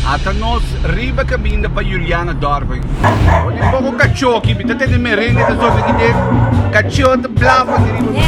Ata nos riba kaminda pa Juliana dòrp aki. Ora tin poko kachó aki, mi ta tende merengue ta zorgi di e kachó ta blafra di riba mi.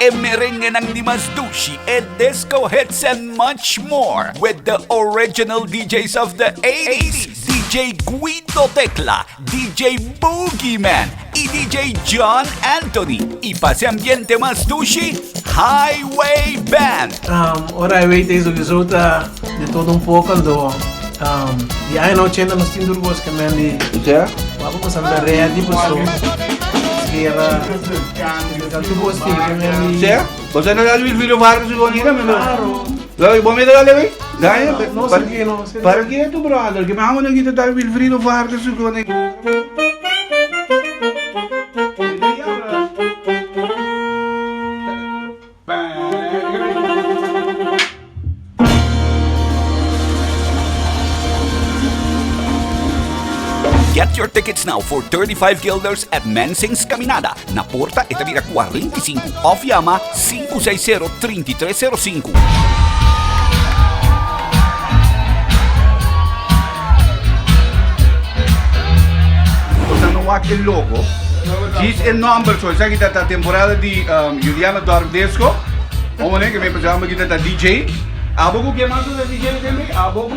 e merengenan di mas dushi, e disco hits and much more with the original DJs of the 80s, DJ Guido Tecla, DJ Boogeyman, y DJ John Anthony y pa hace ambiente mas stushi Highway Band. Ora Highway ta e sowieso ta de todo un poco ando di aña na ochenta nos tin tur cos ke men di papá pues anda ready paso guera ta tur cos tin ke men di. Sea, Jose Antonio Wilfrido Vargas y Juan Ira men lo. Lo i bo mi dale we? Dai, No, no, pa- sergi, no, sergi. Para que tu brother, que me amo na guita tal Wilfrido Vargas su gone. Get your tickets now for 35 guilders at Mensing's Caminada, Na porta e ta bira kuarenta i sinku òf yama sinku seis sero trinta i tres sero sinku. wak e logo. Dis e number so, esa kita ta temporada di um, Juliana Dorfdesco. Como ne, que me pensaba que ta DJ. Abogo, que más de DJ también? Abogo.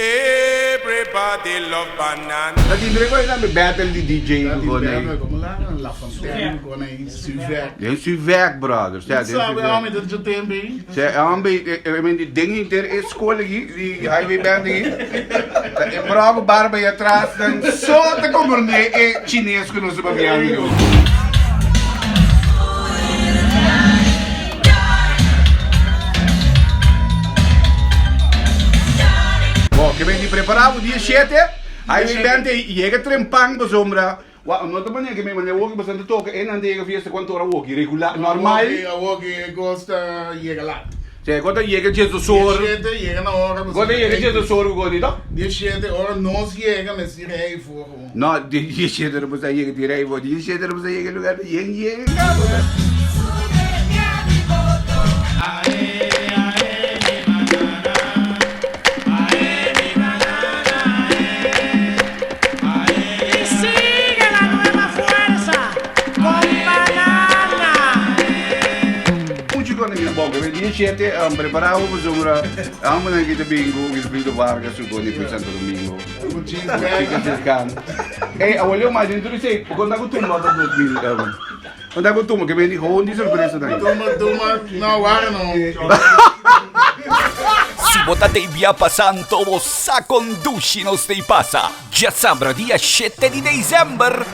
Everybody love banana. Ta tin dre ku esta tambe battle di DJ ku kone ei. Den Suveck brother. Sta den Suveck. Se hombre e menti den henter e school aki di highway band aki ta e brou ku barba ahi atras nan so ta comprende e chines ku nos ta papiando aki. Bo ke menti prepará bo dia shete, hay mi bènte i yega trempan pasobra wa no ta manera ke mi manera woki bashan ta toka e nan ta yega fiesta kuantu ora woki regular normal. Awoki awoki e gos ta yega lat. Sea e gos ta yega dies dos or. Dia shete yega na ora bashan ta rei. Gos ta yega dies dos or ku gos di tok? Dia shete ora nos yega mester rei for. No, di Yeseder bo sa yega di rei, bo di Yeseder bo sa yega e lugar di yen yega e kaba Muchu kos na bira boga we dia shete prepara bo pasobra amo nan ki ta bin ku Wilfrido Vargas su kone fu Santo Domingo. Si bo ta t'ei bia pa Santo bo sa kondushi nos t'ei pasa. Djasabra dia shete di dezember.